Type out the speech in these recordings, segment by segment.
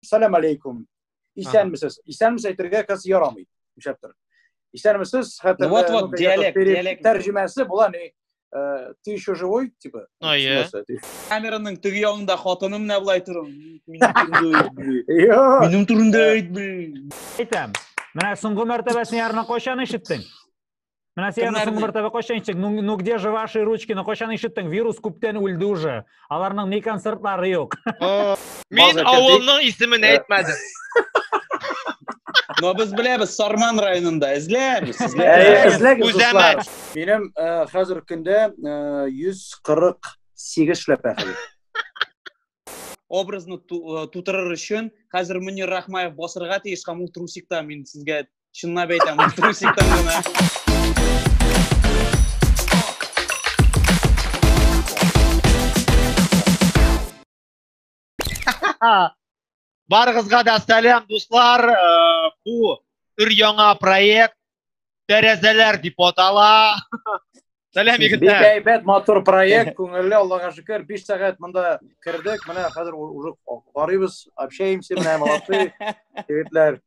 Салам алейкум. Исәнмесез. Исәнмесез әйтергә кыз ярамый. Нишләп тор. Исәнмесез, хәтер. Вот вот диалект, диалект. Тәрҗемәсе була ни? Э, ты еще живой, типа? Ну, я. Камераның теге ягында хатыны менә булай торам. Минем турында әйт, блин. Әйтәм. Менә соңгы мәртәбәсен ярына кайчан ишеттең? Менә сиңа соңгы бер тәбәкә кайчан ишеттең? Ну, ну где же ваши ручки? Ну кайчан ишеттең? Вирус күптән үлде уже. Аларның ни концертлары юк. Мин авылның исемен э. әйтмәдем. Но без беләбез Сарман районында эзләрбез. Эзләгез. Үзәмәт. Минем э, хәзер көндә 148 э, шләпә хәзер. образны э, тутырыр өчен хәзер Мөнир Рахмаев басырга тиеш һәм ул трусикта мин сезгә чынлап әйтәм трусикта гына Барыгызга да сәлам, дуслар. Э, бу өр яңа проект Тәрәзәләр дип атала. Сәлам егетләр. Бик әйбәт, матур проект, күңелле, Аллага шөкер. 5 сәгать монда кердек. Менә хәзер уже карыйбыз, общаемся, менә молодцы егетләр.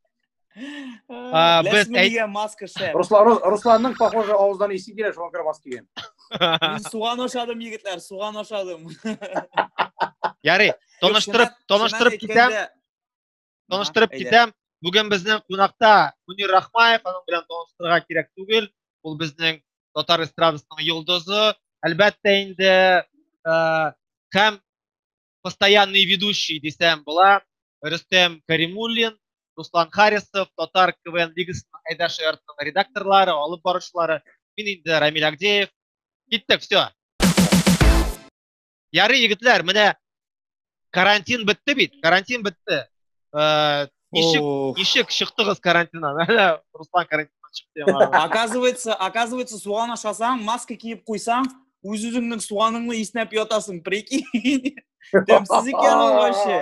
А, без Ләсме әй- дигән маска шәп. Руслан, Рус- Русланның, похоже, авыздан исе килә, шуңа күрә маска кигән. Мин суган ашадым, егетләр, суган ашадым. Ярый, таныштырып, Чыннан- таныштырып чыннан китәм, әйткәндә- таныштырып Ага, әйдә. китәм. Бүген безнең кунакта Мөнир Рахмаев, аның белән таныштырырга кирәк түгел. Ул безнең татар эстрадасының йолдызы. Әлбәттә инде, э, һәм постоянный ведущий дисәм була, Рөстәм Каримуллин, Руслан Харисов, Татар КВН лигасының Айдар Шаяртның редакторлары, алып баручылары, мин инде Рамиль Агдеев. Киттек, все. Ярый, егетләр, менә карантин бетте бит, карантин бетте. Э, Ничек, ничек чыктыгыз карантиннан? Әле Руслан карантиннан чыкты. Оказывается, оказывается, суган ашасаң, маска киеп куйсаң, үз үзеңнең суганыңны иснәп ятасың, прикинь. Тәмсез икән ул вообще.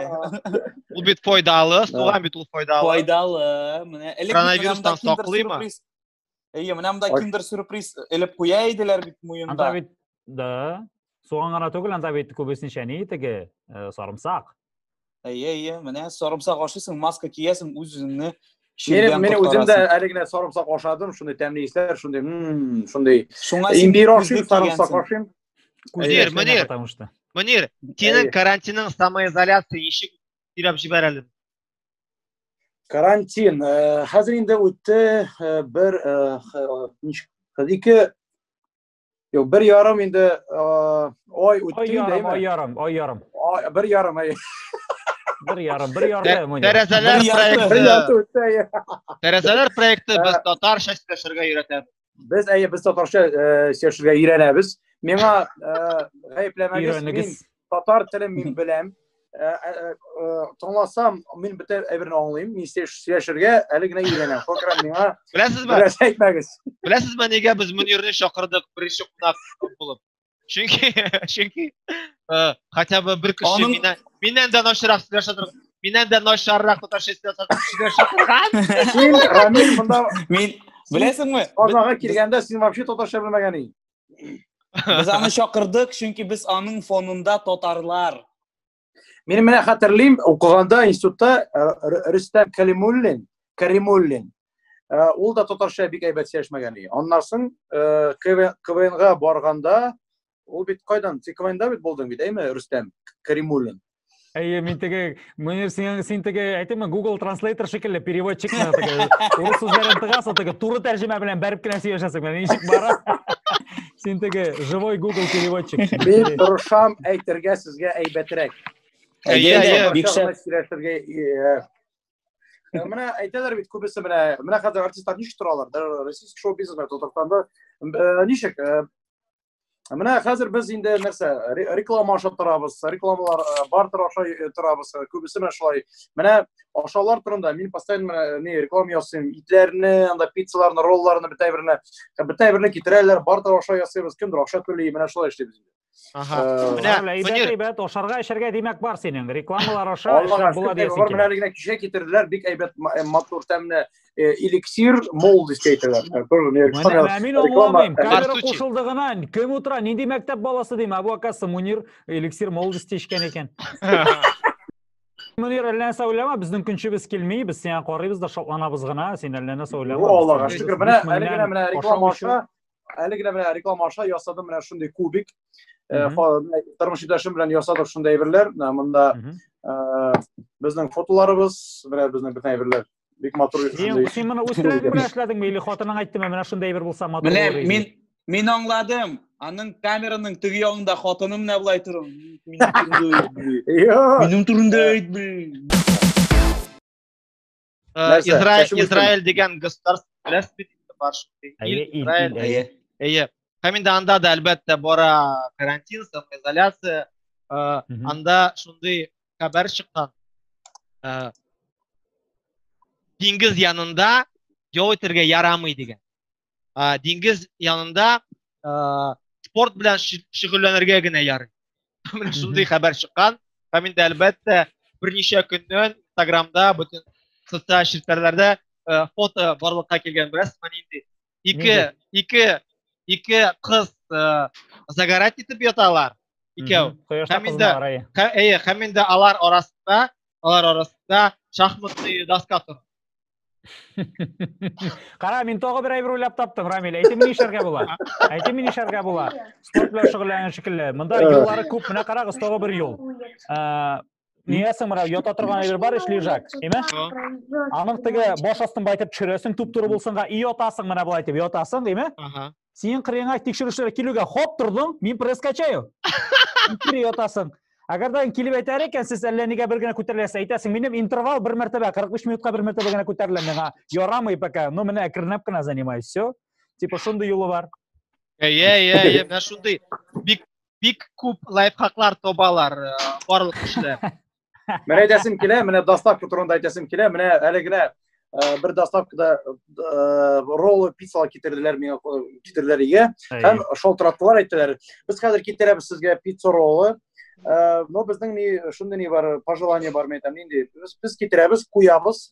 Ул бит файдалы, суган бит ул файдалы. Файдалы. Менә элек коронавирустан саклыймы? Әйе, менә монда киндер сюрприз элеп куя иделәр бит муенда. Анда бит да. Суган гына түгел, анда бит күбесенчә ни теге э, сарымсак. Әйе, әйе, менә сарымсак ашыйсың, маска киясең, үз-үзеңне Менә менә үзем дә әле генә сарымсак ашадым, шундый тәмле исләр, шундый, мм, шундый. Шуңа имбир ашыйм, сарымсак ашыйм. Мөнир, Мөнир. Мөнир, синең карантинның самоизоляция ничек сөйләп җибәрәле? карантин э, хәзер инде үтте э, бер э, ике юк бер ярым инде ай үтте инде ай ярым ай ярым бер ярым ай бер ярым бер ярым тәрәзәләр проекты тәрәзәләр проекты без татарча сөйләшергә өйрәтәбез Без әйе, без татарча э, сөйләшергә өйрәнәбез. Миңа э, гаепләмәгез, мин татар телен мин беләм. Э, Тыңласам, мин бөтен әйберне аңлыйм. Мин сөйләшергә әле генә өйрәнәм. Фокрам миңа. Беләсезме? Беләсезме? Беләсезме, нигә без Мөнирне чакырдык беренче кунак булып? Чөнки чөнки э, хотя бы бер кеше Аның... миннән миннән дә начаррак сөйләшә торган. Миннән дә начаррак татарча сөйләшә торган. Син Рамил монда мин беләсеңме? Казанга килгәндә син вообще татарча белмәгән идең. Без аны чакырдык, чөнки без аның фонында татарлар. Мин менә хәтерлим, укыганда институтта э, Рөстәм Калимуллин, Каримуллин, э, ул да татарча бик әйбәт сөйләшмәгән иде. Аннан соң э, КВНга барганда, ул бит кайдан? Син КВНда бит булдың бит, әйме, Рөстәм Каримуллин? Әйе, мин теге, мөнир, син, син теге, әйтеме, Google Translator шикелле переводчик мына теге, урыс сүзләрен тыгасың, теге туры тәрҗемә белән бәреп кенә сөйләшәсең, менә ничек бара. Син теге живой Google переводчик. Мин тырышам әйтергә сезгә әйбәтрәк. Әйе, әйе, бик шәп. Э, менә әйтәләр бит күбесе менә менә хәзер артистлар ничек торалар? Российский шоу бизнес белән Татарстанда э, ничек? Э, менә хәзер без инде нәрсә реклама аша торабыз, рекламалар бартер аша торабыз. Күбесе менә шулай. Менә ашаулар турында мин постоянно э, не реклама ясыйм итләрне анда пиццаларны ролларны бөтә берне бөтә берне китерәләр бардыр аша ясыйбыз кемдер аша түли менә шулай эшлибез Ага. Э, менә әйбәт әйбәт ашарга эчәргә димәк бар синең рекламалар аша эшләп була диясең килә. Менә генә кичә китерделәр бик әйбәт э, матур тәмле эликсир мол дип әйтәләр. Менә мин аңламыйм. Камера кушылды гына. Кем утыра? Нинди мәктәп баласы дим? Абу Акасы Мунир эликсир мол дип эчкән икән. Мөнир, әллә нәрсә уйлама, безнең көнчебез килми, без сиңа карыйбыз да шатланабыз гына, син әллә нәрсә уйлама. О, Аллага шөкер, менә әле генә менә реклама аша, әле генә менә реклама аша ясадым менә шундый кубик. Э, тормыш иптәшем белән ясадык шундый әйберләр. Монда э, безнең фотоларыбыз, менә безнең бөтен әйберләр. бик матур шундый син моны үз теләгең белән эшләдеңме или хатының әйттеме менә шундый бер булса матур менә мин мин аңладым аның камераның теге ягында хатыны менә болай тора минем турында әйтми израиль дигән государство беләсез бит бар шундый әйе һәм инде анда да әлбәттә бара карантин самоизоляция анда шундый хәбәр чыккан. Ә, диңгез янында ял итәргә ярамый дигән. Ә, диңгез янында ә, спорт белән шөгыльләнергә генә ярый. Менә шундый хәбәр чыккан. Һәм инде әлбәттә берничә көннән Инстаграмда бөтен социаль челтәрләрдә фото барлыкка килгән, беләсезме, нинди ике ике ике кыз э, загорать итеп яталар икәү һәм инде әйе һәм инде алар арасында алар арасында шахматный доска тора Кара, мин тагы бер әйбер уйлап таптым, Рамил. Әйтем ни эшләргә була? Әйтем ни эшләргә була? Спорт белән шөгыльләнгән шикелле. Монда юллары күп. Менә карагыз, тагы бер юл. Ниясең мына ята торган әйбер бар ич лежак, әйме? Аның теге баш астын байтып төшерәсең туп туры булсынга, и ятасың менә болай дип ятасың, әйме? Ага. Синең кырыеңа тикшерүчеләр килүгә хоп тордың, мин пресс качаю. Кире ятасың. Әгәр дә килеп әйтәр икән, сез әллә нигә бер генә күтәреләсез, әйтәсең, минем интервал бер мәртәбә, 45 минутка бер мәртәбә генә күтәрелә миңа. Ярамый пока. Ну менә әкренләп кенә занимаюсь, все. Типа шундый юлы бар. Әйе, әйе, әйе, менә шундый бик бик күп лайфхаклар табалар э, барлык кешеләр. Менә әйтәсем килә, менә доставка турында әйтәсем килә, менә әле генә э, бер доставкада э, роллы пиццалар китерделәр миңа китерделәр өйгә һәм шалтыраттылар әйттеләр без хәзер китерәбез сезгә пицца роллы но безнең ни шундый ни бар пожелание бар мен әйтәм нинди без китерәбез куябыз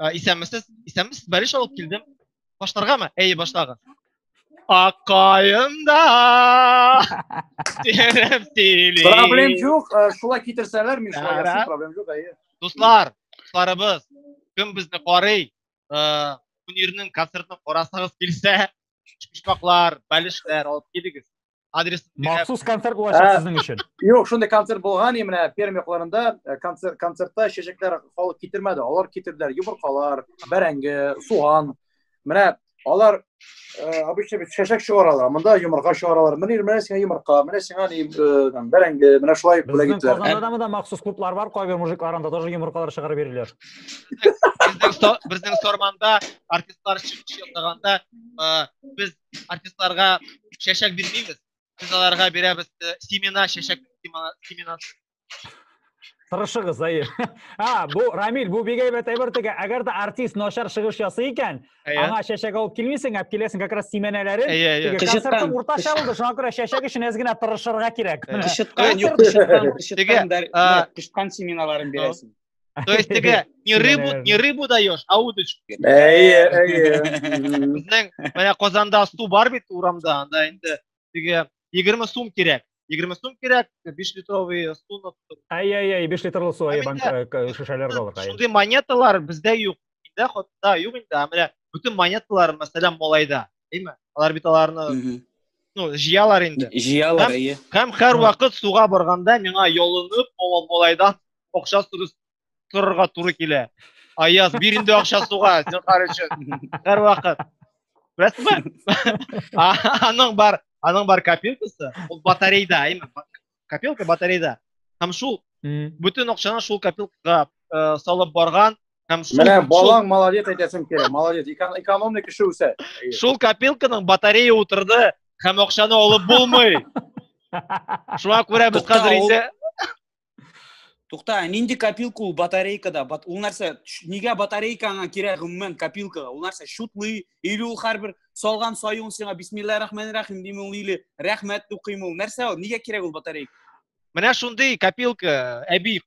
Ә, исәнмесез, исәнмесез, бәлеш алып килдем. Башларгамы? Әйе, башлагыз. Аккаемда терем сөйли. Проблем юк, э, шулай китерсәләр, мин шулай Ярар. ясыйм, проблем юк, әйе. Дуслар, дусларыбыз, кем безне карый, э, Мөнирнең концертын карасагыз килсә, почмаклар, бәлешләр алып килегез. адрес махсус концерт булачак сезнең өчен юк шундый концерт булган менә пермь якларында концертта чәчәкләр халык китермәде алар китерделәр йомыркалар бәрәңге суган менә алар обычно бит чәчәк чыгаралар монда йомырка чыгаралар менә менә сиңа йомырка менә сиңа ни бәрәңге менә шулай бүләк ителә казанда да махсус клублар бар кайбер мужиклар анда тоже йомыркалар чыгарып бирделәр безнең сорманда артистлар чыгыш ясаганда без артистларга чәчәк бирмибез. Без аларга бирәбез э, семена, чәчәк семена. Тырышыгыз, әйе. А, бу Рамил, бу бик әйбәт әйбер теге. Әгәр дә артист начар чыгыш ясый икән, аңа чәчәк алып килмисең, әп киләсең как раз семенәләрен. Әйе, әйе. Концертның уртача булды, шуңа күрә чәчәк өчен әз генә тырышырга кирәк. Кышыткан, юк, кышыткан, кышыткан, кышыткан семеналарын бирәсең. То есть теге не рыбу, не рыбу даешь, а удочку. Әйе, әйе. Безнең менә Казанда су бар бит урамда, анда инде теге 20 сум кирәк. 20 сум кирәк, 5 литровый суны. Әйе, әйе, 5 литрлы су әйе банк шешәләргә алырга. Шундый монеталар бездә юк. Миндә хатта юк инде, ә менә бөтен монеталар, мәсәлән, малайда, әйме? Алар бит аларны ну, җыялар инде. Җыялар, әйе. Һәм һәр вакыт суга барганда миңа ялынып, малайдан акча сөрү торырга туры килә. Аяз, бир инде акча суга, зинхар өчен. Һәр вакыт. Беләсезме? Аның бар, аның бар копилкасы, ул батарейда, әйме? копилка батареяда һәм шул бөтен акчаны шул копилкага э, салып барган һәм шул менә балаң молодец әйтәсең килә молодец экономный кеше үсә шул копилканың батарея утырды һәм акчаны алып булмый шуңа күрә без хәзер инде Тукта, нинди копилка ул батарейкада? Ул нәрсә, нигә батарейка аңа кирәк гомумән копилкага? Ул нәрсә, шутлый или ул һәрбер салган саюн сиңа бисмиллаһи рахмани рахим дим ул или рәхмәт укыйм ул нәрсә ул нигә кирәк ул батарейка менә шундый копилка э, әби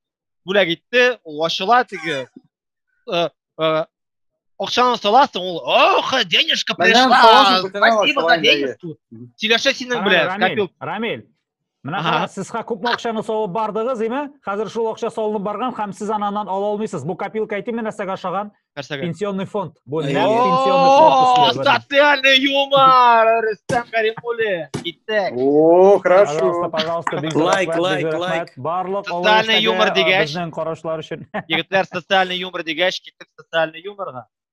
бүләк итте ул ачыла теге э, э, акчаны саласың ул ох денежка пришла спасибо за денежку сөйләшә синең белән копилка рамиль Менә карагыз, сез күпме акчаны салып бардыгыз, име? Хәзер шул акча салынып барган һәм сез ананан ала алмыйсыз. Бу копилка әйтим мин нәрсәгә ошаган? Нәрсәгә? Пенсионный фонд. Бу нәкъ пенсионный фонд. Социальный юмор, Рөстәм Кәримуллин. Киттек. О, хорошо. Пожалуйста, пожалуйста, бик лайк, лайк, лайк. Барлык социальный юмор дигәч, безнең карашлар өчен. Егетләр социальный юмор дигәч, киттек социальный юморга.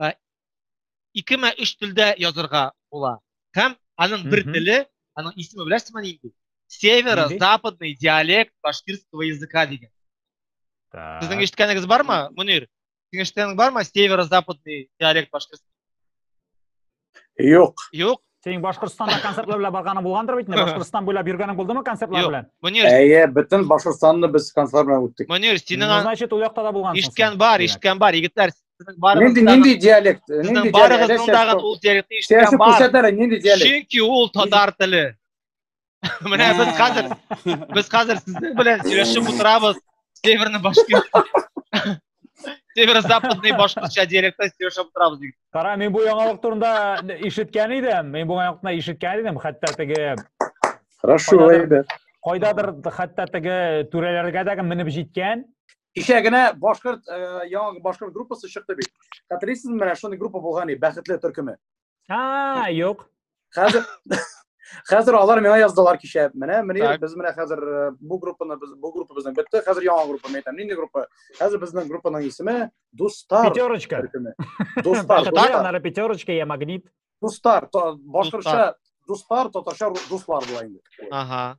э, ике мә өч телдә язырга була. Һәм аның бер теле, аның исеме беләсезме нинди? Северо-западный диалект башкирского языка дигән. Так. Сезнең ишеткәнегез бармы, Мөнир? Синең ишеткәнең бармы? Северо-западный диалект башкирского. Юк. Юк. Синең Башкортстанда концертлар белән барганы булгандыр бит инде. Башкортстан буйлап йөргәнең булдымы концертлар Юк. белән? Мөнир, Әйе, бөтен Башкортстанны без концерт белән үттек. Мөнир, синең Ну, ан- значит, ул якта да булгансың. ишеткән син. бар, Димәк. ишеткән бар. Егетләр, сезнең барыгыз Нинди нинди диалект? Нинди Сезнең диалект? барыгызның дагы ул диалектны ишеткән Сәясәт бар. күрсәтәләр, нинди диалект? Чөнки ул татар теле. Менә без хәзер без хәзер сезнең белән сөйләшеп утырабыз. Северный башкирт. Северо-западный башкортча диалектта сөйләшеп утырабыз дип. Кара, мин бу яңалык турында ишеткән идем. Мин бу яңалыкны ишеткән идем, хәтта теге Хорошо, әйдә. Кайдадыр хәтта теге түрәләргә дә менеп җиткән. Кичә генә башкорт яңа башкорт группасы чыкты бит. Хәтерлисезме, менә шундый группа булган иде, бәхетле төркеме. А, юк. Хәзер Хәзер алар миңа яздылар кичә. Менә мени без менә хәзер э, бу группаны без бу группа безнең бетте. Хәзер яңа группа әйтәм. Нинди группа? Хәзер безнең группаның исеме Дустар. Пятерочка. Дустар. Дустар. Анары пятерочка я магнит. Дустар. Башкача Дустар, татарча дуслар була инде. Ага.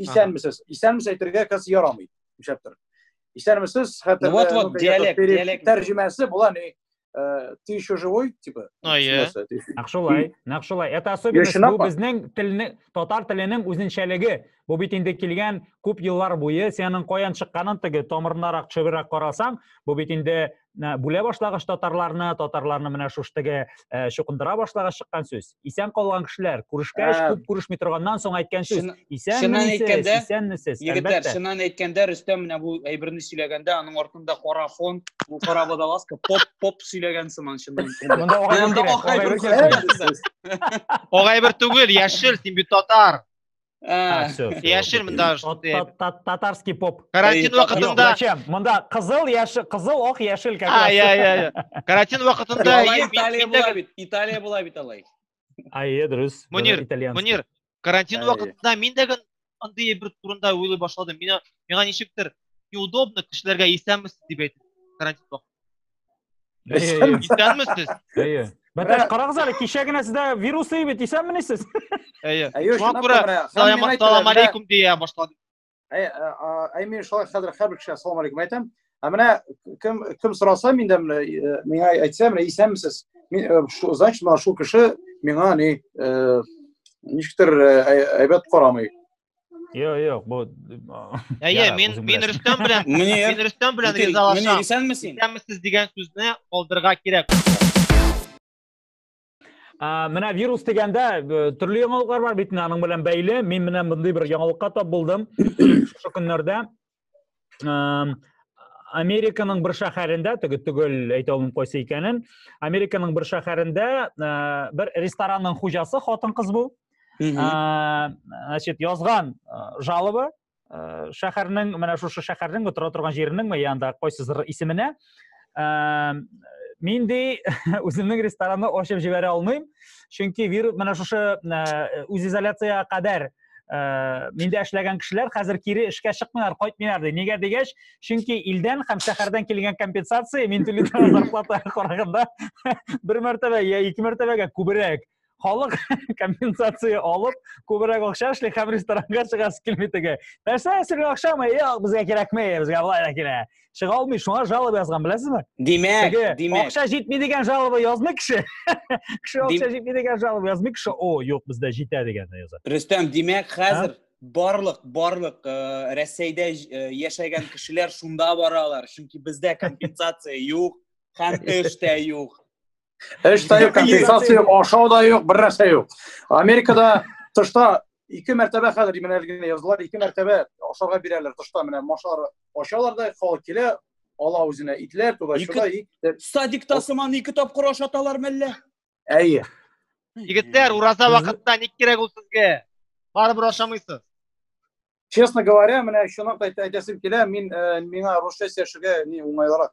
Исәнмесез. Исәнмесез әйтергә кыз ярамый. Нишләп тор. Исәнмесез, хәтер. Вот вот диалект, диалект. Тәрҗемәсе була ни? Э, ты еще живой, типа? Ну, я. Нәкшулай, нәкшулай. Это особенность бу безнең телне, татар теленең үзенчәлеге. Бу бит инде килгән күп еллар буе сенең каян чыкканын теге тамырнарак чыбырак карасаң, бу бит инде бүлә башлагач татарларны татарларны менә шуштеге э, чукындыра башлагач чыккан сүз исән калган кешеләр күрешкәч ә, күп күрешми торганнан соң әйткән сүз исәнмесез исәнмесез егетләр чыннан әйткәндә рөстәм менә бу әйберне сөйләгәндә аның артында кара фон бу кара водолазка поп поп сөйләгән сыман чыннан ак әйбер түгел яшел син бит татар А, все, все. Яшел мында Татарский поп. Карантин вакытында. Зачем? Мында кызыл, яшел, кызыл, ох, яшел как раз. А, я, я, я. Карантин вакытында Италия була бит. Италия була бит алай. А, е, дөрес. Мөнир, Мөнир, карантин вакытында мин дә андый бер турында уйлый башладым. Мина, миңа ничектер неудобно кешеләргә исәнмесез дип әйтеп карантин вакытында. Исәнме? Исәнме сез? Әйе. Бәтәш, карагыз әле, кичә генә сездә вирус ди бит, исәнмени сез? Әйе. Әйе, Шуңа күрә салам алейкум дия башладым. Әйе, әйе, мин шулай хәзер һәрбер кешегә салам алейкум әйтәм. Ә менә кем кем сораса миндә менә э, миңа әйтсә, менә исәнмесез? Мин э, значит, менә шул кеше миңа ни э, ничектер әйбәт карамый. Yo'q, yo'q, bu Әйе, Ярар, мин үзең мин беләсең. Рөстәм белән Мөнир, мин Рөстәм белән Мөнир, ризалашам. исәнмесең? Исәнмесез дигән сүзне калдырырга кирәк. А, менә вирус дигәндә э, төрле яңалыклар бар бит менә аның белән бәйле. Мин менә мондый бер яңалыкка тап булдым шушы көннәрдә. Американың бер шәһәрендә, теге түгел әйтә алмыйм кайсы икәнен, Американың бер шәһәрендә бер ресторанның хуҗасы хатын-кыз бу. Значит, язган жалобы шәһәрнең, менә шушы шәһәрнең тора торган җиренең ме янда кайсыдыр исеменә, мин ди үземнең ресторанны ачып җибәрә алмыйм чөнки вирус менә шушы үзизоляциягә кадәр миндә эшләгән кешеләр хәзер кире эшкә чыкмыйлар кайтмыйлар ди нигә дигәч чөнки илдән һәм шәһәрдән килгән компенсация мин түли торган зарплатага караганда бер мәртәбә я ике мәртәбәгә күбрәк халык компенсация алып күбрәк акча эшли һәм ресторанга чыгасы килми теге нәрсә сиңа акчамы юк безгә кирәкми безгә болай да кирәк чыга алмый шуңа жалоба язган беләсезме димәк димәк акча җитми дигән жалоба язмый кеше кеше акча җитми дигән жалоба язмый кеше о юк бездә җитә дигәнне яза рөстәм димәк хәзер барлык барлык э, рәсәйдә э, яшәгән кешеләр шунда баралар чөнки бездә компенсация юк һәм эш тә юк Эш тә юк, компенсация юк, ашау да юк, бер нәрсә юк. Америкада тышта ике мәртәбә хәзер менә генә язылар, ике мәртәбә ашарга бирәләр тышта менә машар ашалар да халык килә, ала үзенә итләр, туда шуда и садикта сыман ике тапкыр ашаталар мәллә? Әйе. Егетләр, ураза вакытта ник кирәк ул сезгә? Барыбер ашамыйсыз. Честно говоря, менә шуны әйтәсем килә, мин э, миңа русча сөйләшергә ни уңайлырак.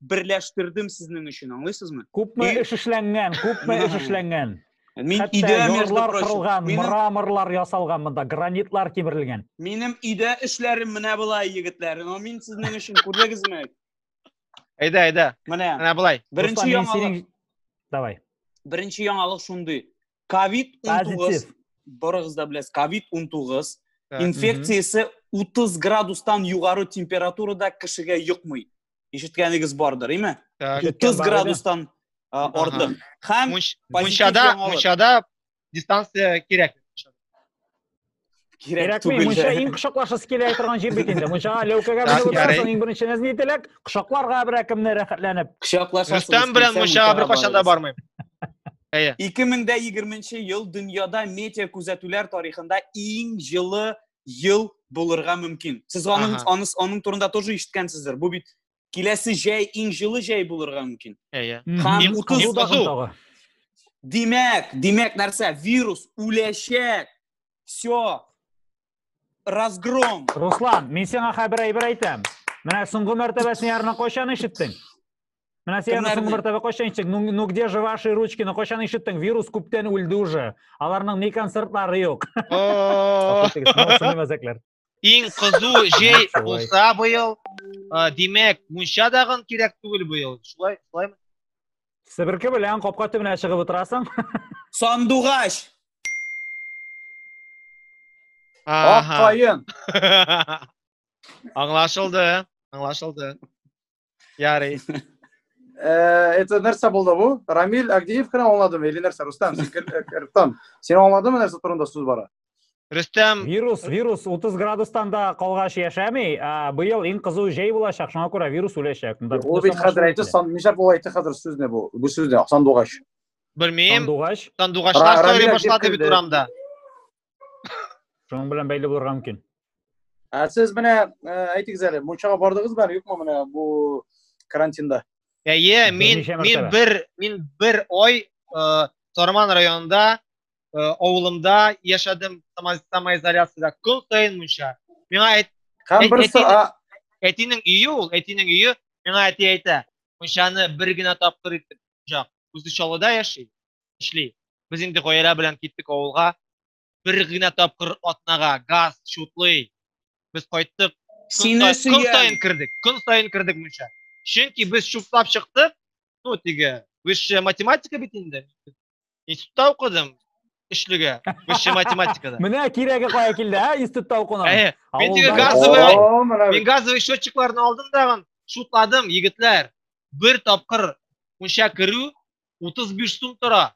берләштердем сезнең өчен, аңлыйсызмы? Күпме эш эшләнгән, күпме эш эшләнгән. Мин өйдә ярлар кырылган, мраморлар ясалган монда, гранитлар кимерелгән. Минем өйдә эшләрем менә болай, егетләр. Но мин сезнең өчен күрдегезме? Әйдә, әйдә. Менә. Менә болай. Беренче яңалык. Давай. Беренче яңалык шундый. Ковид 19 барыгыз да беләсез, ковид 19 инфекциясе 30 градустан югары температурада кешегә йокмый. ишеткәнегез бардыр име утыз градустан артык һәм мунчада мунчада дистанция кирәк кирәк түгел мунча иң кочаклашасы килә торган җир бит инде мунчага ләүкәгә менеп утырасың иң беренче нәзни теләк кочакларга берәкемне рәхәтләнеп кочаклашасың рөстәм белән мунчага беркайчан да бармыйм әйе ике мең дә егерменче ел дөньяда метео күзәтүләр тарихында иң җылы ел булырга мөмкин. Сез аның, ага. аның, аның турында тоже ишеткәнсездер. Бу бит киләсе җәй, иң җылы җәй булырга мөмкин. Әйе. Һәм 30 дагы. Димәк, димәк нәрсә? Вирус үләчәк. Все. Разгром. Руслан, мин сиңа хәбәр әйтәм. Менә соңгы мәртәбәсен ярына кайчан ишеттең? Менә сиңа соңгы бер тәбәкә кайчан ишеттең? Ну, ну где же ваши ручки? Ну кайчан ишеттең? Вирус күптән үлде уже. Аларның ни концертлары юк. Иң кызу җәй булса быел, димәк, мунча дагын кирәк түгел быел. Шулай, шулаймы? Себерке белән капка төбенә чыгып утырасың. Сандугач. Ак каен. Аңлашылды, аңлашылды. Ярый. Э, это нәрсә булды бу? Рамил Агдиев кына аңладымы или нәрсә? Рустам, син э, Рустам, син аңладыңмы нәрсә турында сүз бара? Рустам, вирус, вирус 30 градустан да калгач яшәми. Э, быел иң кызу җәй булачак, шуңа күрә вирус үләчәк. Ул бит хәзер әйтте, сан ничә була әйтте хәзер сүзне бу. Бу сүзне сандугач. Белмим. Сандугач. Сандугачлар сорый башлады бит урамда. шуның белән бәйле булырга мөмкин ә сез менә әйтегез әле мунчага бардыгызмы әле юкмы менә бу карантинда әйе мин мин бер мин бер ой Сарман районында авылымда яшәдем самоизоляцияда көн саен мунча миңа әйт һәм берсе әтинең өе ул әтинең өе миңа әти әйтә мунчаны бер генә тапкыр итеп жак үзе чаллыда яши эшли. Без инде гаилә белән киттек авылга. Бер генә тапкыр атнага газ шутлый. Без кайттык. Сине сөям. Көн сайын кердек. Көн сайын кердек мунча. Чөнки без шутлап чыктык. Ну, тиге, высшая математика бит инде. Институтта укыдым. Эшлегә. Высшая математикада. Менә кирәге кая килде, ә? Институтта укуның. Әйе. Мин тиге газовый, мин газовый счетчикларны алдым дагын, шутладым, егетләр. Бер тапкыр мунча керү 35 сум тора.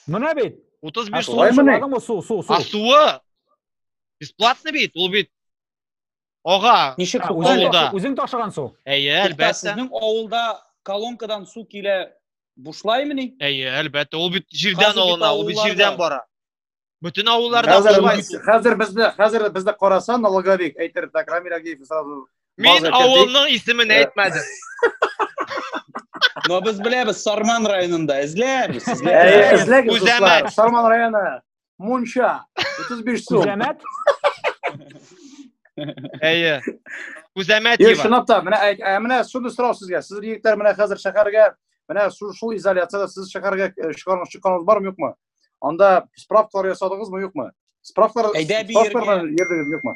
Менә бит. 35 сум. Шулай менә. Су, су, су. А суы бесплатный бит, ул бит Ага. Ничек су? Авылда. Үзең ташыган су. Әйе, әлбәттә. Сезнең авылда колонкадан су килә бушлаймыни? Әйе, әлбәттә. Ул бит җирдән алына, ул бит җирдән бара. Бөтен авылларда Хәзер, шулай. хәзер безне, хәзер безне караса налоговик әйтер, так Рамил Агеев сразу. Мин авылның исемен э. әйтмәдем. Но без беләбез Сарман районында эзләрбез. Эзләгез, Күзәмәт. Сарман районы. Мунча. 35 сум. Күзәмәт. Әйе. Күзәмәт дип. Шунап та, менә ә, менә шуны сорау сезгә. Сез егетләр менә хәзер шәһәргә, менә шул изоляцияда сез шәһәргә э, чыгармакчы чыкканыгыз бармы, юкмы? Анда справкалар ясадыгызмы, юкмы? Справкалар Әйдә би справкалар йөргән. йөрдегез, юкмы?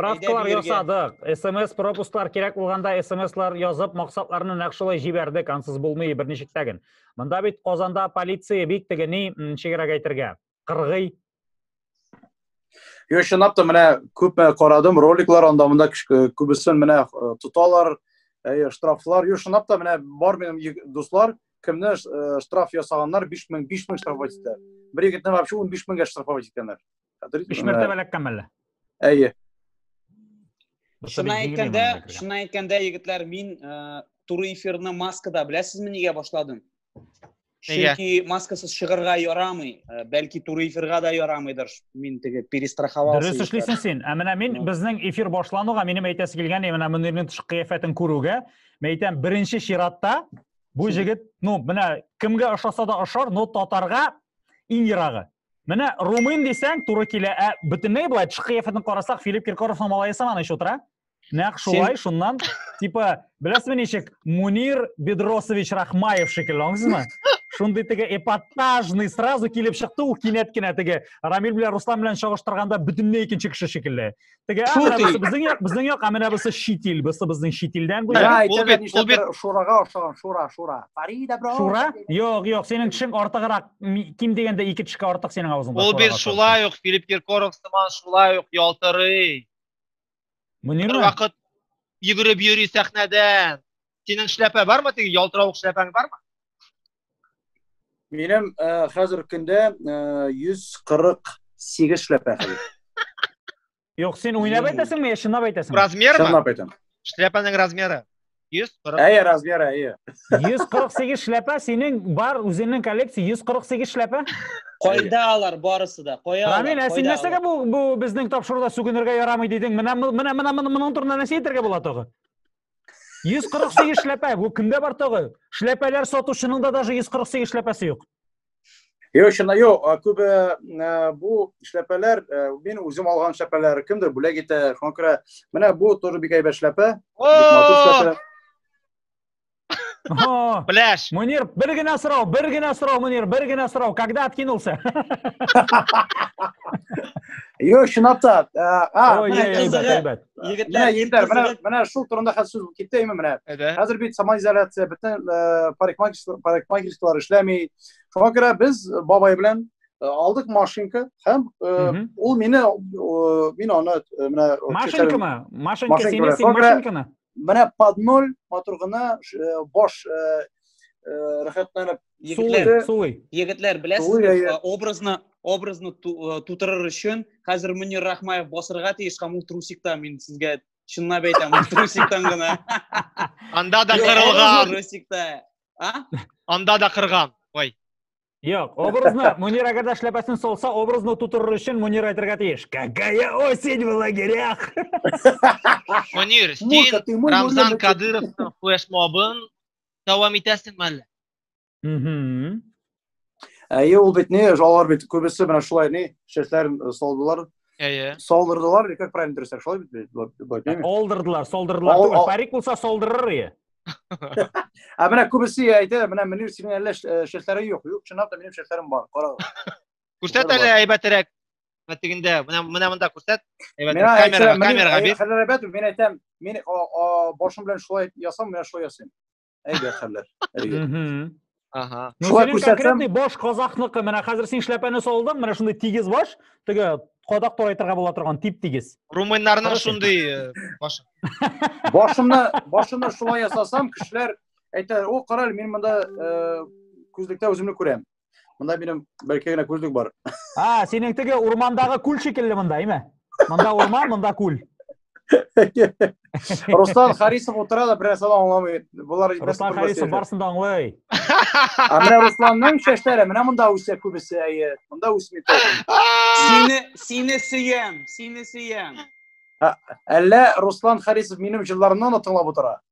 Правкалар Әйдә, биргә. ясадык. СМС пропусклар кирәк булганда СМСлар язып, максатларны нәкъ шулай җибәрдек, ансыз булмый берничек тә ген. Монда бит Казанда полиция бик теге ни, м, ничегрәк әйтергә, кыргый. Юк, чынлап та менә күпме карадым роликлар анда монда күбесен менә э, тоталар, э, штрафлар. Юк, чынлап та менә бар минем дуслар, кемне э, штраф ясаганнар 5000 5000 штрафовать итә. Бер егетне вообще 15 меңгә штрафовать иткәннәр. 5 мәртәбә ләккән әле. Әйе. Шуна әйткәндә, шуна әйткәндә егетләр, мин туры эфирны маскада, беләсезме, нигә башладым? Чөнки маскасыз чыгарга ярамый, э, бәлки туры эфирга да ярамыйдыр. Мин теге перестраховался. Дөрес эшлисең син. Ә менә мин безнең эфир башлануга минем әйтәсе килгән, менә Мөнирнең тышкы кыяфәтен күрүгә, мен әйтәм, беренче чиратта бу җегет, ну, менә кемгә ошаса да ошар, но татарга иң ерагы. Менә румын дисәң, туры килә. Ә бөтенләй болай тышкы кыяфәтен карасак, Филипп Киркоровның малае сыман ич утыра. нәкъ шулай шуннан типа беләсезме ничек мунир бедросович рахмаев шикелле аңлыйсызмы шундый теге эпатажный сразу килеп чыкты ул кинәт кенә теге рамил белән руслан белән чагыштырганда бөтенләй икенче кеше шикелле теге безнең як безнең як ә менә бусы чит ил бусы безнең чит илдән ул бит ул бит шурага охшаган шура шура фарида бро шура юк юк синең тешең артыграк ким дигәндә ике тешкә артык синең авызыңда ул бит шулай ук филипп киркоров сыман шулай ук ялтырый Мөнир Бер вакыт йөгереп йөри сәхнәдән. Синең шляпа бармы? Теге ялтыравык шляпаң бармы? Минем э, хәзер көндә 148 э, шляпа хәзер. Юк, син уйнап әйтәсеңме, я чынлап әйтәсеңме? Размермы? Чынлап әйтәм. Шляпаның размеры. 140. Әйе, размер әйе. 148 шляпа синең бар үзеңнең коллекция 148 шляпа. Кайда алар барысы да? Кая алар? Рамил, ә син нәрсәгә бу бу безнең тапшыруда сүгенергә ярамый дидең? Менә менә менә моның турында нәрсә әйтергә була тагы? 148 шляпа, бу кемдә бар тагы? Шляпалар сатучының да даже 148 шляпасы юк. Йо, чына, йо, күбе бу эшләпәләр, мин үзем алган эшләпәләр, кемдер бүләк итә, шуңа күрә, менә бу тоже бик әйбәт эшләпә. Пляж. Мунир, бер генә сорау, бер генә сорау, Мунир, бер генә сорау, когда откинулся? Йо, чынлап та. Ой, әйбәт, әйбәт. Егетләр, егетләр, менә менә шул турында хәзер сүз китте именно менә. Хәзер бит самоизоляция, бөтен парикмахерскалар эшләми. Шуңа күрә без бабай белән алдык машинка һәм ул мине мин аны менә машинкамы? Машинка сине син машинканы. Менә под ноль матур гына баш рәхәтләнеп Егетләр, Суый. Егетләр, беләсез, образны образны тутырыр өчен хәзер Мөнир Рахмаев басырга тиеш һәм ул трусикта мин сезгә чынлап әйтәм, трусиктан гына. Анда да кырылган. Трусикта. А? Анда да кырган. Ой. Юк, образны Мөнир әгәр дә шляпасын солса, образны тутырыр өчен Мөнир әйтергә тиеш. Какая осень в лагерях. Мөнир, син Рамзан Кадыровның флешмобын дәвам итәсеңме әллә? Мм. Әйе, ул бит ни, алар бит күбесе менә шулай ни, шешләрен э, салдылар. Әйе. Салдырдылар, или как правильно дөресрәк, шулай бит бит, бу- бу- әйтмәйме? Олдырдылар, солдырдылар. Ал- түгел. ал- Парик булса солдырыр ие. Ә менә күбесе әйтә, менә Мөнир синең әллә ш- э, шешләрең юк. Юк, чынлап та минем шешләрем бар. Кара. Күрсәт әле әйбәтерәк. менә тегендә менә менә монда күрсәт камерага камерага бир хәлләр әйбәт мин әйтәм мин башым белән шулай ясам менә шулай ясыйм әйбәт хәлләр әйбәт Ага. Ну, Шулай күрсәтсәм, баш казахныкы. Менә хәзер син шляпаны салдың, менә шундый тигез баш, теге кадак турайтырга була торган тип-тигез. Румыннарның шундый э, башы. Башымны, башымны шулай ясасам, кешеләр әйтәләр, "О, караль, мин монда э, күзлектә үземне күрәм." Монда минем бер ике генә күзлек бар. А, синең теге урмандагы күл шикелле монда, әйме? Монда урман, монда күл. Руслан Харисов утыра да берәр сала аңламый. Булар Руслан Харисов барсын да аңлый. А менә Русланның чәчләре менә монда үсә күбесе, әйе. Монда үсми. Сине, сине сөям, сине сөям. Әллә Руслан Харисов минем җылларымны тыңлап утыра?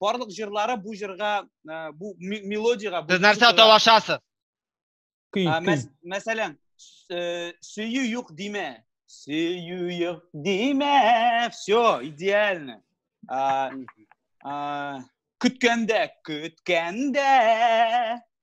барлык җырлары бу җырга бу мелодиягә сез нәрсә талашасыз мәсәлән сөю юк димә сөю юк димә все идеально көткәндә көткәндә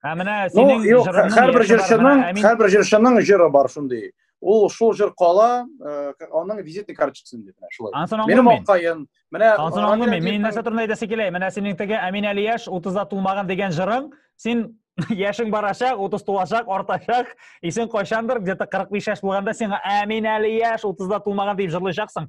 Ә менә синең ну, җырыңның һәрбер җырчының һәрбер җырчының җыры бар шундый. Ул шул җыр кала, э, аның визитный карточкасын дип менә шулай. Минем аккаен, менә Ансын аңлый мин. Мин нәрсә турында әйтәсе килә? Менә синең теге Әмин Алияш 30-да тулмаган дигән җырың, син яшең барачак, 30 тулачак, артачак, исең кайчандыр где-то 45 яшь булганда сиңа Әмин әле яшь, 30-да тулмаган дип җырлыйчаксың.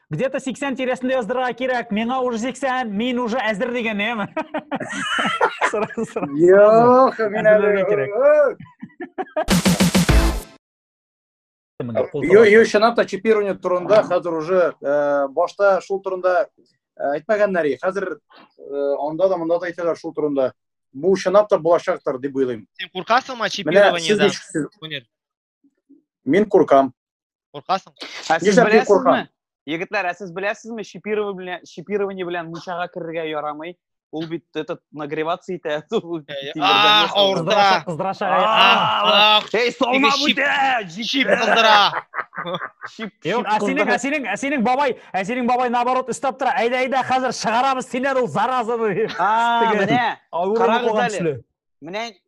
где-то 80 тирәсендә яздырырга кирәк миңа уже 80 мин уже әзер дигән яме юк мин әле кирәк юк чынлап та чипирование турында хәзер уже э, башта шул турында э, әйтмәгәннәр и хәзер э, анда да монда да әйтәләр шул турында бу чынлап та булачактыр дип уйлыйм син куркасыңмы чипированиедән Мин куркам. Куркасың. Ә сез Нишләп беләсезме? куркам? Егетләр, ә сез беләсезме, чипирование белән, чипирование белән мунчага керергә ярамый. Ул бит этот нагреваться итә. Ул тимердән А, ясалган. авырда. Кыздырашага А, а, Эй, солма Теге чип- бүтә! Чип кыздыра. Чип, чип Юк, ә синең, кыздыра. ә синең, ә синең бабай, ә синең бабай наоборот өстәп тора. Әйдә, әйдә, хәзер чыгарабыз синнән ул заразаны. А, Теге- менә, Авыру Карагыз булган әле. төсле. менә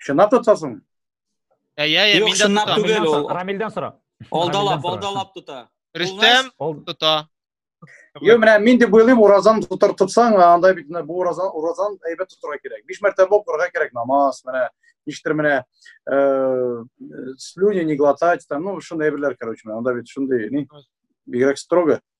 Чынлап тотасың? Ә, я, я, Юк, мин дә чынлап тотам. түгел. Рамилдән ул. сора- Рамилдән сора. Алдалап, Рамилдән сора. алдалап тота. Рөстәм Ол- тота. Йо, менә мин дип уйлыйм, уразан тотар тотсаң, анда бит менә бу уразан, уразан әйбәт тотырга кирәк. Биш мәртәбә укырга кирәк намаз, менә ништер менә э, слюни не глотать, там, ну, шундый әйберләр, короче, менә анда бит шундый, ни, бигрәк строго.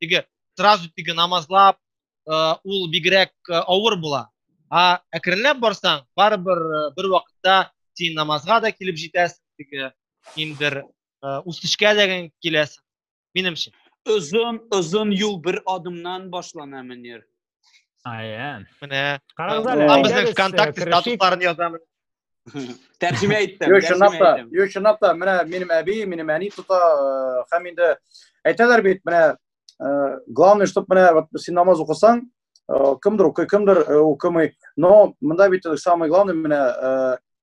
теге сразу теге намазлап ул бигрәк авыр була а әкренләп барсаң барыбер бер вакытта син намазга да килеп җитәсең теге киндер үсешкә дә киләсең минемчә озын озын юл бер адымнан башлана мөнир Ая. Менә. Карагыз әле. Ул безнең ВКонтакте статусларын язамыз. Тәрҗемә иттем. Юк, чынлап та, юк, чынлап та, менә минем әби, минем әни тота, һәм инде әйтәләр бит, менә главное, чтобы менә вот син намаз укысаң, кемдер укый, кемдер укымый, но монда бит самый главный менә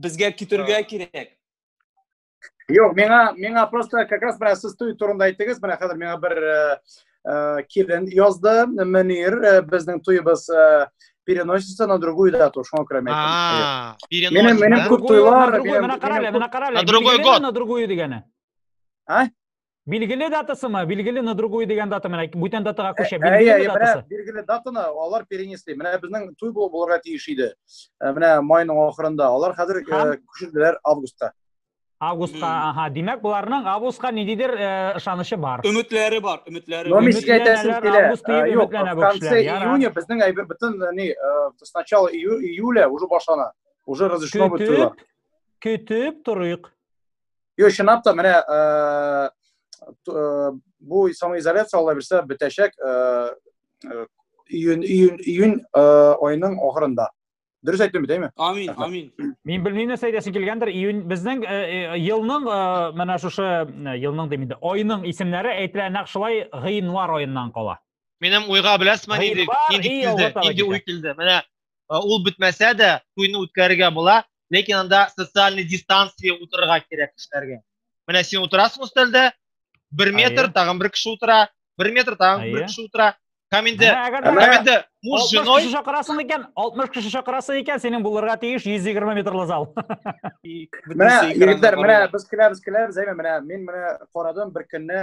Безгә китергә кирәк. Юк, миңа миңа просто как раз менә сез туй турында әйттегез, менә хәзер миңа бер э, э, килен язды, Мөнир, э, безнең туебыз переносится на другую дату, шуңа күрә мен әйттем. Минем минем күп туйлар, менә карале, менә карале. На другой год. На другую дигәне. А? Билгеле датасымы? Билгеле на другую дигән дата менә бүтән датага күчә. Ә, ә, ә, датасы. Билгеле датаны алар перенесли. Менә безнең туй булып булырга тиеш иде. Ә, менә майның ахырында. Алар хәзер э, күчерделәр августка. Августка, аха. Димәк, буларның августка ниндидер э, ышанычы бар. Өметләре бар, өметләре. Но мискә әйтәсем килә. Э, юк, в конце июня безнең әйбер бөтен ни сначала июля уже башлана. Уже разрешено бит туйлар. Көтеп торыйк. Юк, чынлап та менә э, э, бу самоизоляция ала бирсә бетәчәк э, июнь июнь июнь айының ахырында. Дөрес әйттем бит, әйме? Амин, амин. Мин белмим нәрсә әйтәсең килгәндер. Июнь безнең елның менә шушы елның димидә, айның исемнәре әйтелә нәкъ шулай гыйнвар аеннан кала. Минем уйга беләсме нинди нинди килде, нинди уй килде. Менә ул бетмәсә дә, туйны үткәрергә була, ләкин анда социальный дистанция утырырга кирәк кешеләргә. Менә син утырасың өстәлдә, бер метр, тагын бер кеше утыра, бер метр, тагын бер кеше утыра. Һәм инде, һәм инде муж женой... 60 кеше чакырасың икән, 60 кеше чакырасың икән, синең булырга тиеш 120 метрлы зал. Менә, егетләр, менә без киләбез, киләбез, әйме, менә, мин менә карадым, бер көнне,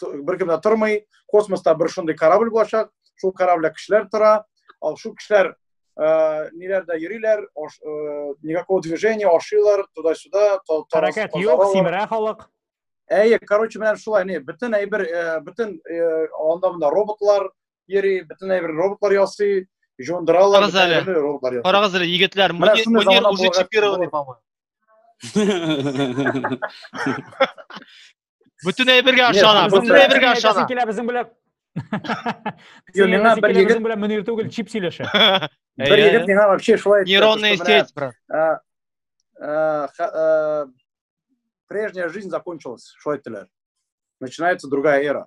беркемдә тормый космоста бер шундый корабль булачак шул корабльдә кешеләр тора ал шул кешеләр э, ниләрдә йөриләр э, никакого движения ашыйлар туда сюда хәрәкәт юк симерә халык әйе короче менә шулай не бөтен әйбер э, бөтен анда монда роботлар йөри бөтен әйбер роботлар ясый жуындыралар карагыз әле егетләр мөнир уже чипированный по моему Бөтен әйбергә ышана, бөтен әйбергә ышана. Килә безнең белән. Юк, миңа бер егет безнең белән мөнир түгел, чип сөйләшә. Бер егет миңа вообще шулай әйтте. Нейронная сеть, брат. Прежняя жизнь закончилась, шулай әйттеләр. Начинается другая эра.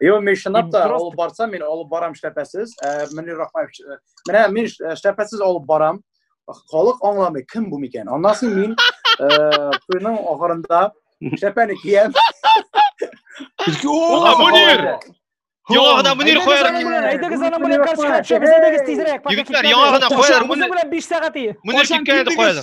Йо, мин шынап та алып барсам, мин алып барам шәпәсез. Мөнир Рахмаев, менә мин шәпәсез алып барам. Халык аңламый, кем бу микән? Аннан соң мин туйның ахырында шәпәне киям. Ага, Мөнир! Яңа гына Мөнир куяр. Әйдәгез аның белән каршыга төшәбез, әйдәгез тизрәк. Егетләр, яңа гына куяр. Мөнир белән 5 сәгать ие. Мөнир киткән иде куяр.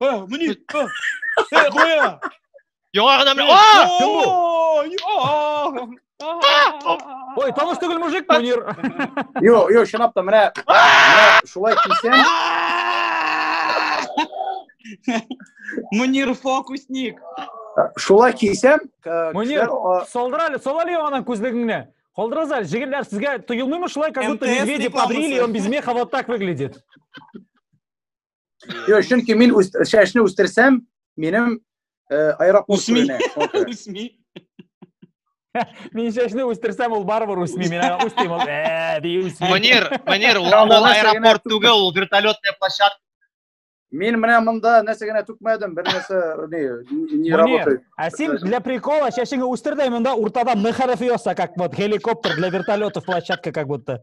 Aa, Münir. Aa. Hey, koya. Яңа гына менә. А! Ой, тавыш түгел мужик, Мөнир. Йо, йо, чынлап та менә шулай кисәм. Мөнир фокусник. Шулай кисәм, Мөнир, солдыр әле, сол әле яңадан күзлегеңне. Колдырыз әле, җегетләр, сезгә тоелмыймы шулай, как будто медведи побрили, он без меха вот так выглядит. Юк, чөнки мин чәчне үстерсәм, минем э, аэропорт үсми. Үсми. Мин чәчне үстерсәм, ул барыбер үсми. Мин аңа үстим, ул э, ди үсми. Манер, манер, ул аэропорт түгел, ул вертолетная площадка. Мин менә монда нәрсә генә түкмәдем, бер нәрсә не не работает. А син для прикола чәчеңне үстер дә монда уртада М хәрефе яса, как вот геликоптер для вертолетов площадка как будто.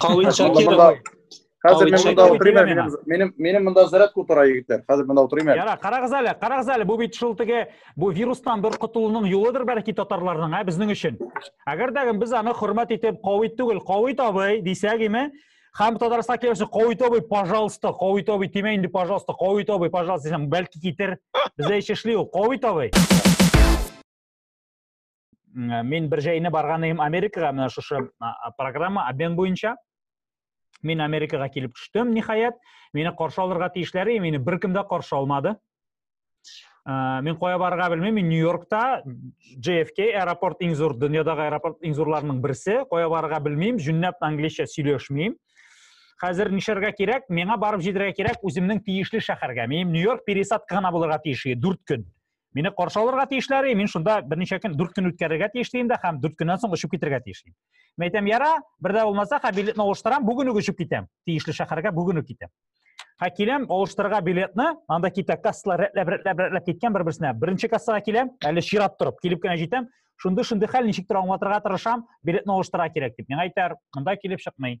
Кавит Шакиров. Хәзер мин монда утырыйм әле, минем минем минем монда зарядка утыра егетләр. Хәзер монда утырыйм әле. Яра, карагыз әле, карагыз әле, бу бит шул теге бу вирустан бер котылуның юлыдыр бәлки татарларның, ә безнең өчен. Әгәр дә без аны хөрмәт итеп, кавит түгел, кавит абый дисәк име, Хам Татарстан келәсе кавит абый, пожалуйста, кавит абый, тимә инде, пожалуйста, кавит абый, пожалуйста, дисәм, бәлки китер. Бездә эш эшли ул, кавит абый. Э, мин бер җәйне барган идем америкага менә шушы программа обмен буенча мин америкага килеп төштем ниһаять мине каршы алырга тиешләр и мине беркем дә каршы алмады э, мин кая барырга белмим мин нью йоркта jfk аэропорт иң зур дөньядагы аэропорт иң зурларының берсе кая барырга белмим җүннәп английча сөйләшмим хәзер нишләргә кирәк миңа барып җитәргә кирәк үземнең тиешле шәһәргә мин нью йорк пересадка гына булырга тиеш дүрт көн Мине каршы алырга тиешләр, мин шунда берничә көн, 4 көн үткәрергә тиеш дим дә һәм 4 көннән соң очып китергә тиеш. Мин әйтәм, яра, бердә булмаса, ха билетны алыштырам, бүген үк очып китәм. Тиешле шәһәргә бүген үк китәм. Ха киләм, алыштырырга билетны, анда китә кассалар рәтләп, рәтләп, рәтләп киткән бер-берсенә. Беренче кассага киләм, әле чират торып, килеп кенә җитәм. Шундый шундый хәл, ничек тора аңлатырга тырышам, билетны алыштырырга кирәк дип. Миңа әйтәр, монда килеп чыкмый.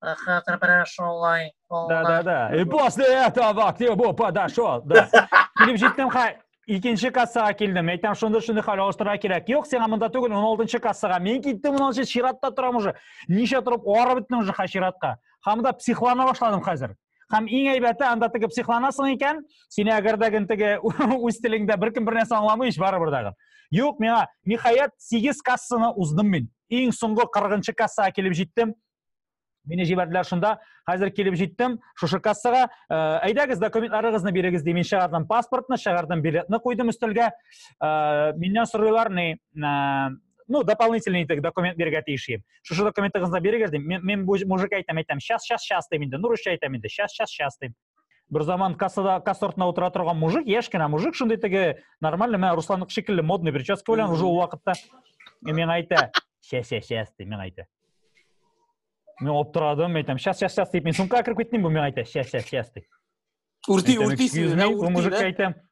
Хатер прошел лай. Да, да, да. И после этого к нему подошел. Да. Килеп җиттем, хай. Икенче кассага килдем. Әйтәм, шунда шуны хәл алыштырырга кирәк. Юк, сиңа монда түгел, 16-нчы кассага. Мин киттем, 16-нчы чиратта торам уже. Ничә торып арып беттем уже ха чиратка. Һәм да психлана башладым хәзер. Һәм иң әйбәте, анда теге психланасың икән, сине әгәр дә гын теге үз телеңдә беркем бер нәрсә аңламый, ич барыбер дә. Юк, миңа ниһаять 8 кассаны уздым мин. Иң соңгы 40-нчы кассага килеп җиттем. Мине җибәрделәр шунда. Хәзер килеп җиттем шушы кассага. Э, әйдәгез, документларыгызны бирегез ди. Мин чыгардым паспортны, чыгардым билетны куйдым өстәлгә. Э, миннән сорыйлар ни, э, ну, дополнительный итек документ бирергә тиеш идем. Шушы документыгызны бирегез дим. Мин, мин бу мужик әйтәм, әйтәм, сейчас, сейчас, сейчас дим инде. Нурышча әйтәм инде, сейчас, сейчас, сейчас дим. бер заман кассада касса артында утыра торган мужик яшь кенә мужик шундый теге нормальный мә русланныкы шикелле модный прическа белән уже ул вакытта и миңа әйтә сейчас сейчас сейчас ди миңа әйтә мин аптырадым әйтәм сейчас сейчас сейчас дип мин сумкага кереп киттем бу миңа әйтә сейчас сейчас сейчас ди үрти үртисең бу мужикка әйтәм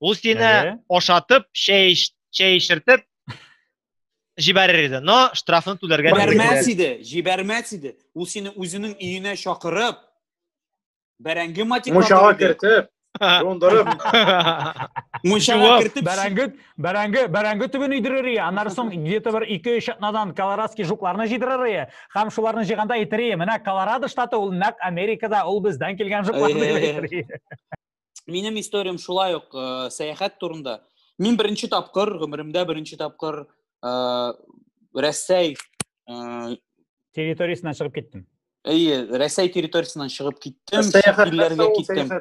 Ул сине Әйе. ашатып, чәй эч- чәй эчертеп җибәрер иде. Но штрафны түләргә Бәрмә- мөмкин. Җибәрмәс иде, җибәрмәс иде. Ул сине үзенең өенә чакырып, бәрәңге матиклатыр Мунчага иде. кертеп, дондырып, Мунчага Җуап. кертеп, Бәрәңге, бәрәңге, бәрәңге төбен өйдерер ие. Аннары соң где-то бер ике-өч атнадан колорадский жукларны җыйдырыр ие. Һәм шуларны җыйганда әйтер ие, менә Колорадо штаты ул нәкъ Америкада, ул бездән килгән жуклар дип Әйе. әйтер ие. минем историям шулай ук э, сәяхәт турында мин беренче тапкыр гомеремдә беренче тапкыр э, рәсәй э, территориясеннән чыгып киттем әйе рәсәй территориясеннән чыгып киттем илләргә киттем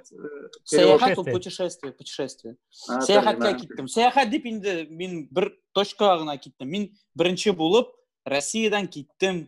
сәяхәт ул путешествие путешествие сәяхәткә киттем сәяхәт дип инде мин бер точкага гына киттем мин беренче булып россиядан киттем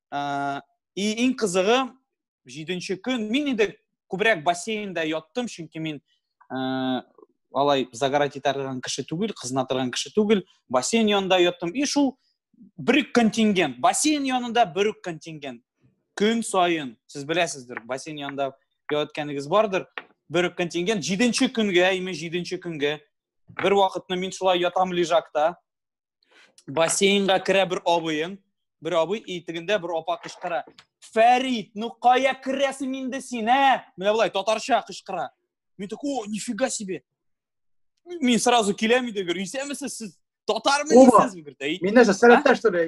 ә, и иң кызыгы җиденче көн мин инде күбрәк бассейнда яттым чөнки мин ә, алай загорать итә торган кеше түгел кызына торган кеше түгел бассейн янында яттым и шул бер үк контингент бассейн янында бер үк контингент көн саен сез беләсездер бассейн янында яткәнегез бардыр бер үк контингент җиденче көнгә именно җиденче көнгә бер вакытны мин шулай ятам лежакта бассейнга керә бер абыең бер абый итегендә бер апа кычкыра фәрит ну кая керәсең инде син ә менә болай татарча кычкыра мин такой о нифига себе мин сразу киләм өйдә гөр исәнмесез сез татармы дисезме гөр әй мин нәрсә сәләттә что ли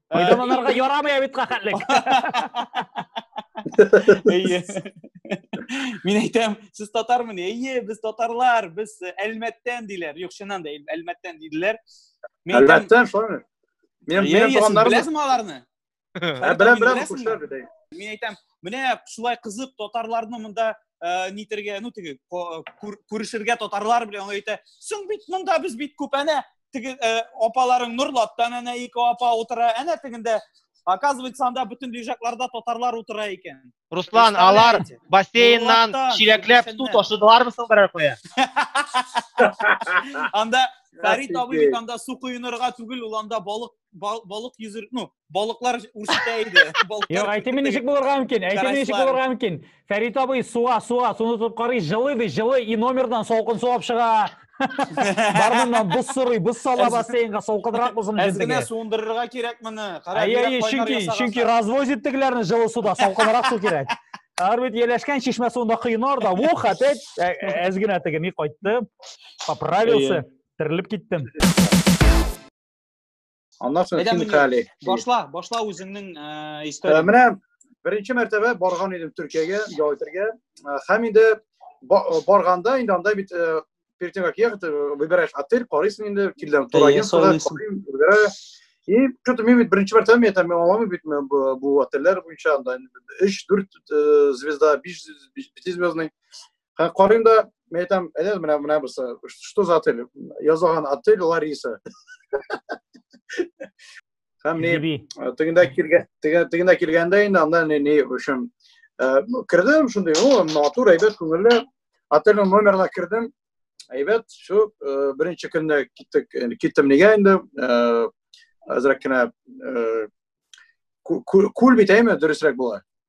Пайдаланырга ярамый бит кахәтлек. Әйе. Мин әйтәм, сез татармы? Әйе, без татарлар, без э, Әлмәттән диләр. Юк, чыннан да Әлмәттән диделәр. Мин әйтәм, Әлбәттә, шулай. Мин мин туганнарым. Беләсеңме аларны? Ә беләм, беләм, күршеләр бит. Мин әйтәм, менә шулай кызык татарларны монда э, нитергә, ну теге күрешергә татарлар белән ул әйтә, "Соң бит монда без бит күп, әнә теге э, апаларың норлаттан әнә ике апа утыра әнә тегендә оказывается анда бөтен движакларда татарлар утыра икән руслан алар бассейннан чиләкләп су ташыдылармы соң берәр кая анда фәрит абый бит анда су коенырга түгел ул анда балык балык йөзер ну балыклар үрсетә иде. Юк, әйтеме ничек булырга мөмкин? Әйтеме ничек булырга мөмкин? Фәрит абый суа, суа, суны тотып карый, жылы ди, жылы и номердан салкын су алып чыга. Бармыннан боз сорый, боз сала бассейнга салкынрак булсын өчен. Әзгенә суындырырга кирәк моны. Кара, әйе, чөнки, чөнки развозит тегеләрне жылы суда, салкынрак су кирәк. Алар бит еләшкән чишмә суында коена да, ух, опять әзгенә тегеми кайтты, поправился, терелеп киттем. аннан соң хинкали башла башла үзеңнең э, историяң менә беренче мәртәбә барган идем төркиягә ял итәргә һәм инде барганда инде анда бит перед тем как ехать выбираешь отель карыйсың инде килдем турагентствода выбираю и что то мен бит беренче мәртәбә мен там алмамын бит бу отельләр буенча анда өч дүрт звезда биш звездный Ха карыйм да, мен әйтәм, әнә менә менә бусы, что за отель? Язылган отель Лариса. Һәм не тегендә килгән, тегендә килгәндә инде анда не не өчен. Ну, кердем шундый, о, матур, әйбәт, күңелле. Отельнең номерына кердем. Әйбәт, шу беренче көнне киттек, киттем нигә инде? Азрак кенә күл бит әйме, дөресрәк була.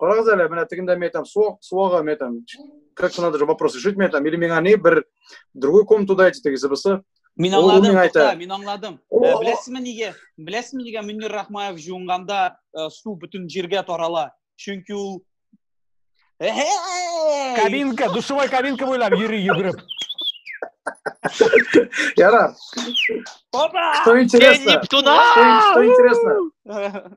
Карагыз әле, менә тегендә мин әйтәм, суак, суага мен әйтәм, как надо же вопрос решить, мен әйтәм, или миңа не бер другой комнату дайте, тегесе булса. Мин аңладым, тукта, мин аңладым. Э, Беләсезме нигә? Беләсезме нигә Мөнир Рахмаев җуынганда э, су бөтен җиргә тарала? Чөнки ул Кабинка, душевой кабинка буйлап йөри йөгереп. Яра. Опа! Что интересно? Что интересно?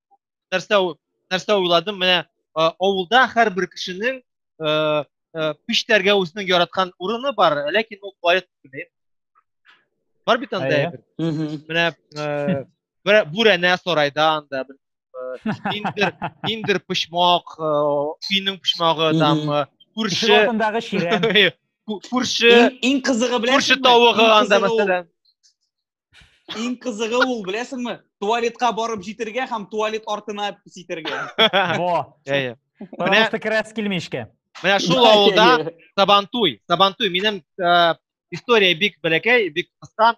нәрсә нәрсә уйладым менә авылда һәрбер кешенең пиштәргә үзенең яраткан урыны бар ләкин ул бай түгел бар бит анда менә бүрәнә сарайда анда ниндер ниндер почмак өйнең почмагы там күрше артындагы чирәм күрше иң кызыгы белән күрше тавыгы анда мәсәлән Иң кызыгы ул, беләсеңме? Туалетка барып җитергә һәм туалет артына ситергә. Во. Әйе. Потому что керәс килми эшкә. Менә шул авылда Сабантуй, Сабантуй минем э, история бик бәләкәй, бик кыска.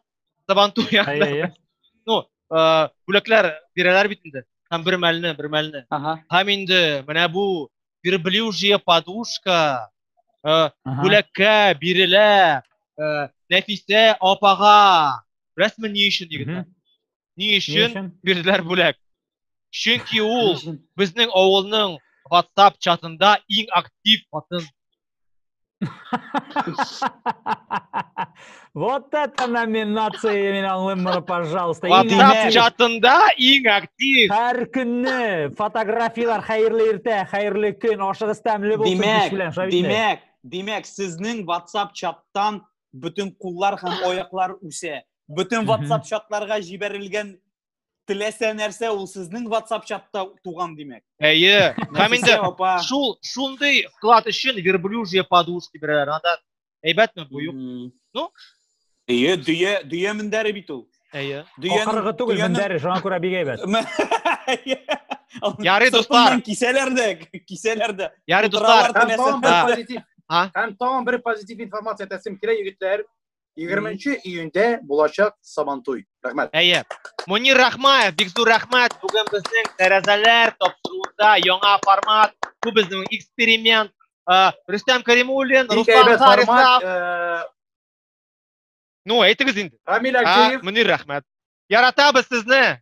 Сабантуй янында. Ну, э, бүләкләр бирәләр бит инде. Һәм бер мәлне, бер мәлне. Һәм инде менә бу верблюжья подушка, э, бүләккә бирелә, э, Нәфисә апага. Беләсезме ни өчен егетләр? Ни өчен бирделәр бүләк? Чөнки ул безнең авылның WhatsApp чатында иң актив хатын. Вот это номинация мен аңлыйм мұны, пожалуйста. WhatsApp чатында иң актив. Һәр көнне фотографиялар хәерле иртә, хәерле көн, ашыгыз тәмле булсын кеш белән, Шавит. Димәк, димәк, сезнең WhatsApp чаттан бөтен куллар һәм аяклар үсә. Бөтен WhatsApp чатларга җибәрелгән теләсә нәрсә ул сезнең WhatsApp чатта туган димәк. Әйе. Һәм инде шул шундый вклад өчен верблюжье подушки бирәләр. Анда әйбәтме бу юк? Ну, Әйе, дөя, дөя мендәре бит ул. Әйе. Ахыргы түгел мендәре, шуңа күрә бик әйбәт. Ярый, дуслар. Кисәләр дә, кисәләр дә. Ярый, дуслар. Һәм тагын бер позитив информация әйтәсем кирәк, егетләр. 20 июньдә булачак Сабантуй. Рәхмәт. Әйе. Мунир Рахмаев, бик зур рәхмәт. Бүген безнең тәрәзәләр тапшыруында яңа формат, бу безнең эксперимент. Э, Рөстәм Каримуллин, Руслан Харисов. Э, ну, әйтегез инде. Рамил Акеев. Мунир Рахмәт. Яратабыз сезне!